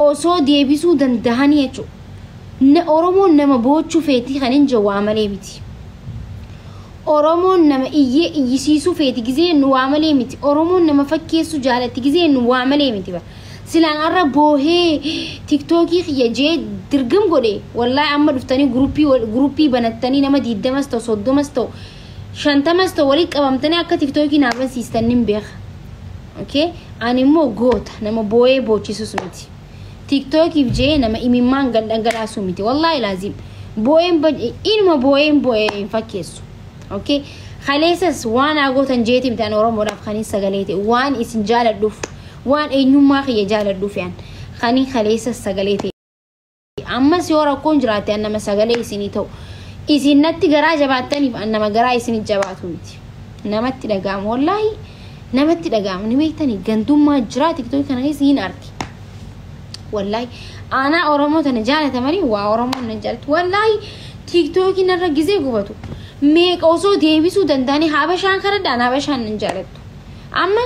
osoo deebisuu dandahanii jechu na oromoon nama boochu feetii kanin je waa malee miti oromoon nama iyyee iyyisiisuu feeti gizee nu waa malee miti oromoon nama fakkeessuu jaalatti gizee nu waa malee miti ba silaan arra boohee tiktookii kiyya jee dirgim godhe wallahi amma dhuftanii guruppii wal- guruppii banattanii nama diiddamas ta'u soddomas ta'u shantamas ta'u walitti qabamtanii akka tiktookii naa bansiistan nin beeka. Okay? Ani immoo goota nama booyee boochisus miti. Tiktookiif jee nama imimmaan gad dhangalaasuu miti. Wallaahi laaziim. Booyeen ban- inuma booyeen booyee hin fakkeessu. Okay? Kaleessas waan haa gootan jeeti miti ani Oromoodhaaf kanin sagalee ta'e waan isin jaaladhuuf waan eenyummaa kiyya jaaladhuuf yaan kanin kaleessas sagalee ta'e. Ammas yoo rakkoon jiraate an nama sagalee isinii ta'u. Isin natti garaa jabaattaniif an nama garaa isinii jabaatu miti. Namatti dhaga'ama wallaahi namatti dhaga'ama ni beektanii gantummaa jiraa tiktookii kana keessa hin arti. Wallaahi aanaa Oromoo tana jaalata malee waa Oromoon nan jaalatu. Wallaahi tiktookii narra gisee gubatu. Meeqa osoo deebisuu danda'anii habashaan kanadhaan habashaan nan jaalattu. Amma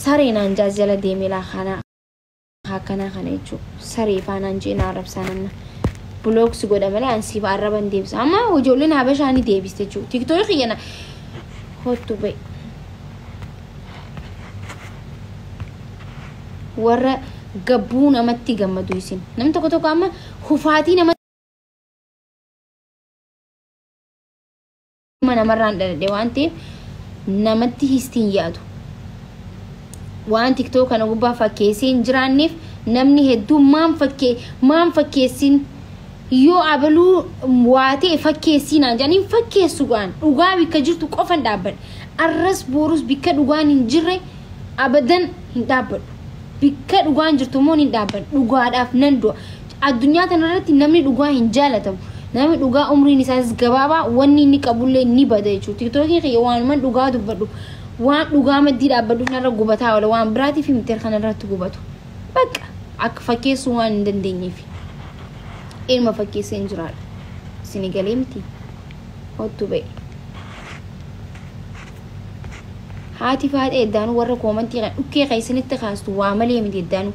saree naan jaajala deemelaa kanaa. akkanaa kana jechuu saree faanaan jee na arrabsaan amma block si godha malee an siif arraba hin deebisa amma ijoolleen habashaa ni deebiste jechuu tiktookii kiyya na kottu ba'i warra gabbuu namatti gammadu isin nam tokko tokko amma kufaatii nama Ilma namarraan dhaladhe waan ta'eef namatti histi hin yaadu. Waan tiktoo kana gubbaa fakkeessee hin jiraanneef namni hedduun maan fakkee maan fakkeessin yoo abaluu waa ta'e fakkeessii naan jedhan hin fakkeessu gaan dhugaa bikka jirtu qofan dhaabbadha. Arras boorus bikka dhugaan hin jirre abadan hin dhaabbadhu. Bikka dhugaan jirtu immoo hin dhaabbadha. Dhugaadhaaf nan du'a. Addunyaa tana irratti namni dhugaa hin jaalatamu. Namni dhugaa umriin isaas gabaabaa wanni inni qabullee ni bada jechuudha. Tiktookiin kiyya waanuman dhugaa dubbadhu waan dhugaa maddii dhaabbadhu kanarra gubataa oola waan biraatiif miti kanarratti gubatu. Bakka akka fakkeessuu waan hin dandeenyeef. Ilma fakkeesseen jiraadha. Isin galee miti. Ottu ba'e. Haati faaxee eddaanuu warra koomantii kan dhukkee keessanitti kaastu waa malee miti eddaanuu.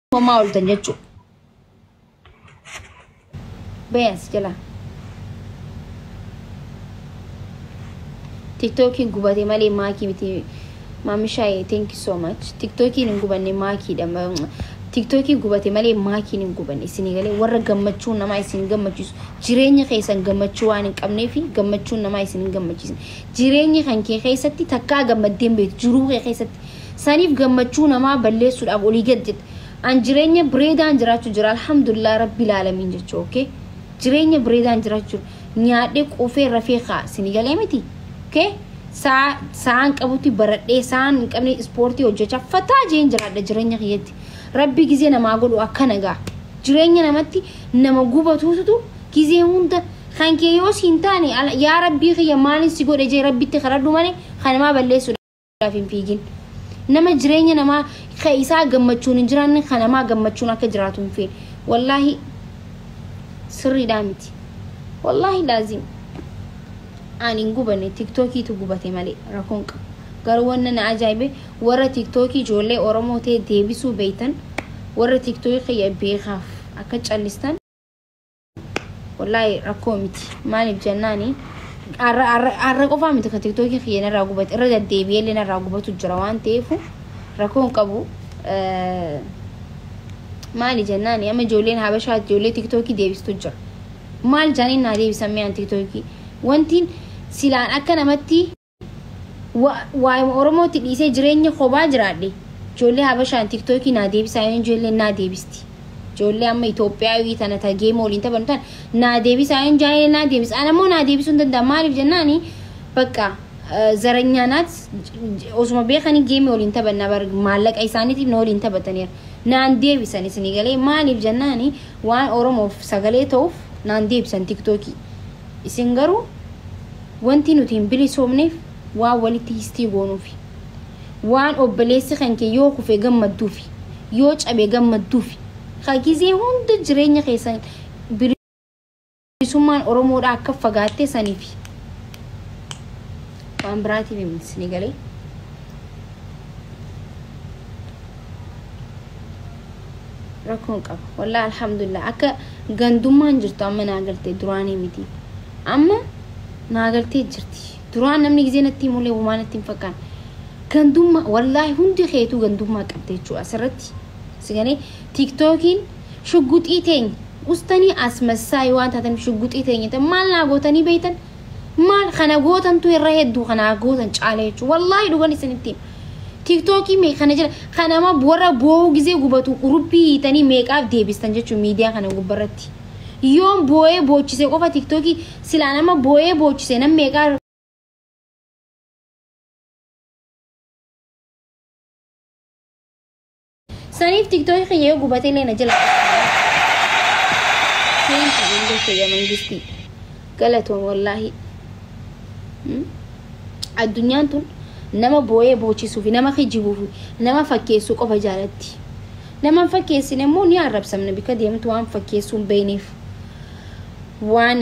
Homaa ooltan jechuu. Beeyans jala. Tiktookiin gubate malee maakii miti. Maamishaaye thank you so much. Tiktookiin hin gubanne maakiidha. Ma- Tiktookiin gubate malee maakiin hin gubanne isinii galee warra gammachuu namaa isin gammachiisu jireenya keessan gammachuu waan hin qabnee fi gammachuun namaa isin hin gammachiisne jireenya kan kee keessatti takkaa gammaddeen beektu jiruu kee keessatti Saniif gammachuu namaa balleessuudhaaf olii gad jette. An jireenya breedaan jiraachu jira alhamdulillah rabbil aalamiin jechu ok. Jireenya breedaan jiraachu jiru. Nyaadhee quufee rafee kaa sini galee miti. Ok. Saa saan qabutti baradhee saan hin qabne ispoortii hojjechaa fataa jeen jiraadha jireenya kiyyatti. Rabbi gizee namaa godhu akkana gaa. Jireenya namatti nama gubatuutu gizee hunda kan kee yoo siin taane yaa rabbii kiyya maalin si godhe jee rabbitti kadhadhu malee kanamaa balleessuudha. Kanaaf hin fiigin. Nama jireenya namaa ka isaa gammachuun hin jiraanne ka namaa gammachuun akka jiraatu hin feene. Wallaahi sirriidhaa miti. Wallaahi laazim. Aan hin gubane tiktookiitu gubate malee rakkoon qabu. Garuu wanna na ajaa'ibe warra tiktookii ijoollee Oromoo ta'e deebisuu beeytan warra tiktookii kiyya beekaaf akka callistan Wallaahi rakkoo miti. Maaliif jennaani arra arra arra qofaa miti ka tiktookii kiyya narraa gubate irra deddeebi'ee illee narraa gubatu jira waan ta'eef rakkoon qabu eh, maali jennaani amma ijoolleen habashaa ijoollee tiktookii deebistu jira. Maal jaaniin naa deebisan mi'aan tiktookii wantiin silaan akka namatti Wa, waayuma Oromootti dhiisee jireenya kobaa jiraadhe. Ijoollee Habashaan TikTokii naa deebisaa yoon ijoolleen naa deebisti. Ijoollee amma Itoophiyaawii tana ta geema waliin taphannu tana naa deebisaa yoon jaalee naa deebis. Ana immoo naa deebisuu hin danda'an maaliif jennaani bakka zaranyaa naat osuma beekanii geemii waliin taphanna bar maallaqa isaaniitiif na waliin taphataniira. Naan deebisan isinii galee maaliif jennaani waan Oromoof sagalee ta'uuf naan deebisan TikTokii. Isin garuu Wanti nuti hin bilisoomneef waan walitti histii goonuufi. Waan obboleessi kanke yoo kufe gammadduufi, yoo cabe gammadduufi, ka gizee hunda jireenya keessan bilisummaan Oromoodhaa akka fagaatte saniifi. Waan biraatiif miti isinii galee? Rakkoo hin qabu. Wallahi alhamdulillah akka gandummaan jirtu amma naa galte duraanii miti. Amma naa galtee jirti. Duraan namni gizee natti himullee homaa natti hin fakkaanne. Gandummaa wallaahi hundi keetuu gandummaa qabda jechuudha asirratti. Si galee tiiktookiin shugguxii teenya ustanii asmassaayii waan taatan shugguxii teenya ta'e maal naa gootanii beektan? Maal kana gootantu irra hedduu kanaa gootan caala jechuudha. Wallaahi dhugan isinitti hima. Tiiktookii mee kana jira kanama warra boo'uu gizee gubatu urubbii hiitanii meeqaaf deebistan jechuudha miidiyaa kana gubbarratti. Yoon booyee boochise qofa tiktoki silaa nama booyee boochise nam meeqaa saniif tiktoki kiyya yoo gubate illee na jala Thank you, Angel Kiyya Mangistii. Galatoom wallaahi. Mm. Addunyaan tun nama booyee boochisuu fi nama kijibuuf nama fakkeessuu qofa jaalatti. Nama hin fakkeessine immoo ni arrabsamna bika deemtu waan fakkeessuu hin beekneef. Waan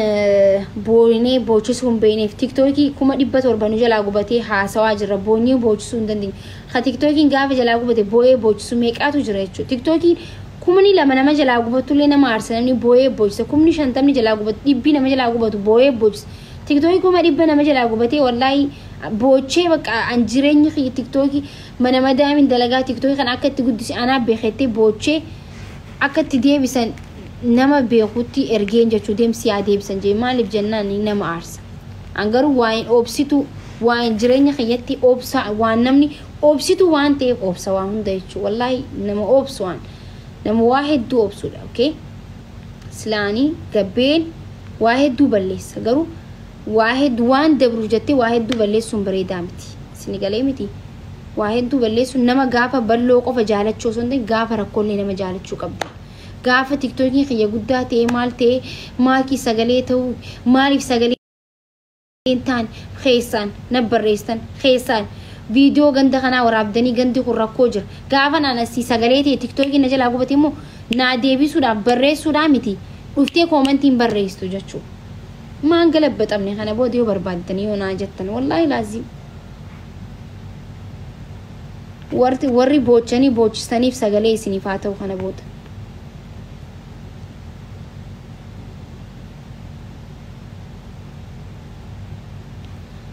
booynee boochisuu hin beekneef. Tiktookii kuma dhibba torba nu jalaa gubatee haasawaa jirra. Boonyee boochisuu hin dandeenye. Ka tiktookiin gaafa jalaa gubate booyee boochisuu meeqaatu jira jechuudha. Tiktookiin kumni lama nama jalaa gubattullee nama aarsa namni booyee boocisa. Kumni shantamni jalaa gubatu dhibbi nama jalaa gubatu booyee boocisa. Tiktookii kuma dhibba nama jalaa gubatee wallaahi boochee bakka an jireenyi kiyya tiktookii Mana madaamin dalagaa tiktoki kana akka itti guddise anaa beeka jettee boochee akka itti deebisan nama beekutti ergeen jechuu deem si haa deebisan jee maaliif jennaan nama aarsa. An garuu waa'een obsituu waa'een jireenya kiyyatti obsa waan namni obsituu waan ta'eef obsa waa hunda jechuu wallaahi nama obsu an nama waa hedduu obsuudha okay silaani gabbeen waa hedduu balleessa garuu Waa heddu waan dabruuf jattee waa hedduu balleessuun bareedaa miti. Sini galee miti? Waa hedduu balleessuun nama gaafa balloo qofa jaalachuu osoo hin ta'in gaafa rakkoollee nama jaalachuu qabda. Gaafa tiktokiin kiyya guddaa ta'ee maal ta'ee maakii sagalee ta'uu maaliif sagalee hin taane keessaan na barreessan keessaan viidiyoo ganda kanaa waraabdanii gandi kun rakkoo jira. Gaafa naan asii sagalee ta'e tiktokiin na jalaa gubate immoo naa deebisuudhaaf barreessuudhaa miti dhuftee koomantiin barreessitu jechuudha. Maa hin galabbaxamne kana booda yoo barbaaddanii yoo naa jettan wallaahi laaziim. Warri warri boochanii boochistaniif sagalee isiniif haa ta'u kana booda.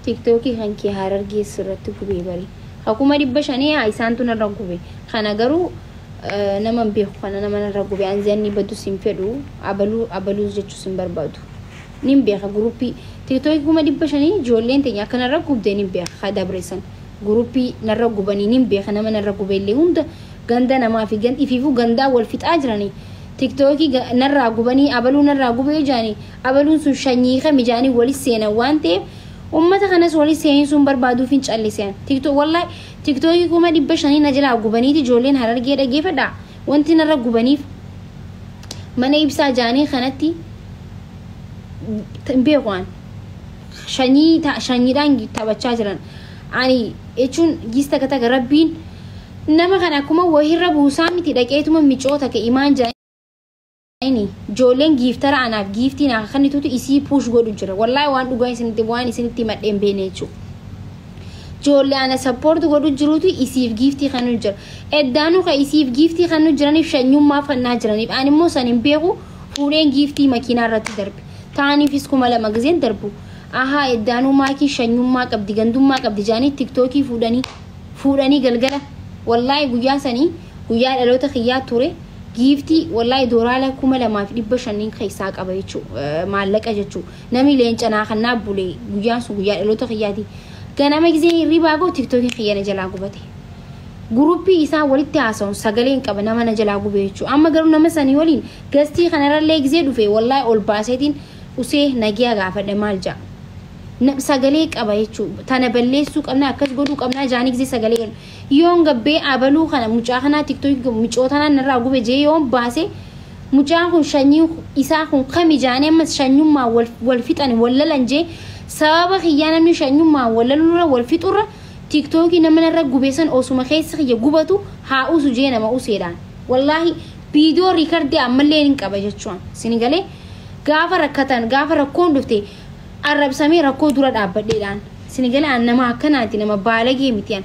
tiktookii kan kee harargee sirratti gubee bari ka kuma dhibba shanii haa isaantu narra gube kana garuu nama hin beeku kana nama narra gube anzi anni badus hin fedhu abaluu abaluus jechuu sin barbaadu nin beeka guruppii tiktoki kuma dhibba shanii ijoolleen teenya akka narra gubde nin beeka ka dabreessan guruppii narra gubanii nin beeka nama narra gube illee hunda ganda namaa fi gan ifiifuu gandaa wal fixaa jiranii tiktoki narraa gubanii abaluu narraa gubee jaanii abaluun sun shanyii kami jaanii wali seenan waan ta'eef ummata kanas wali seensuun barbaaduu fin callisean tiktok wallahi tiktoki kuma dhibba shanii na jalaa gubaniiti ijoolleen harargee dhageefadhaa Wanti narra gubaniif mana ibsaa jaanii kanatti hin beeku an. Shanyii ta- shanyiidhaan taphachaa jiran. Ani jechuun giis takka takka rabbiin nama kana akkuma wahirra buusaa miti dhaqeetuma micoota ka imaan jaanii Ayni joolleen giiftara anaaf giiftii naa kannitutu isii puush godhu jira. Wallaahi waan dhugaa isinitti waan isinitti himadhe hin beekne jechuudha. Joollee ana sappoorti godhu jirutu isiif giiftii kannu jira. Eddaanuu kan isiif giiftii kannu jiraniif shanyummaaf kannaa jiraniif. Ani immoo san hin beeku fuudheen giiftii makiinaa irratti darbe. Taaniifis kuma lama gizeen darbu. Ahaa eddaanuu maakii shanyummaa qabdi gandummaa qabdi jaanii tiktookii fuudhanii fuudhanii galgala. Wallaahi guyyaa sanii guyyaa dhaloota kiyyaa ture. Giiftii wallahi doraala kuma lamaa fi dhibba shanniin keessaa qaba jechuu maallaqa jechuu namni leenca naa kan naa bule guyyaan sun guyyaa dhaloota kiyyaati ganama gisee hirribaa koo tiktokiin kiyya na jalaa gubate guruppii isaan walitti haasa'uun sagaleen qaba nama na jalaa gubee jechuu amma garuu nama sanii waliin gastii kanarrallee gisee dhufe wallahi ol baaseetiin usee nagiyaa gaafadhe maal ja'a Na- sagalee qaba jechuu tana balleessuu qabna akkas godhuu qabna jaanii gisee sagalee Yoon gabbee abaluu kana mucaa kanaa tiktoki koo micoo tanaan narraa gube jee yoon baase mucaan kun shanyii isaa kun kami jaanii ammas shanyummaan wal, wal fixani wal lalan jee sababa kiyyaa namni shanyummaan wal lalurra wal fixurra tiktoki nama narra gube san osuma keessi kiyya gubatu haa usu jee nama useedhaan wallaahi viidiyoo riikardii ammallee nin qaba jechuun sini galee gaafa rakkatan gaafa rakkoon dhufte arrabsamee rakkoo dura dhaabbadheedhaan sini gala an nama akkanaati nama baalagee miti an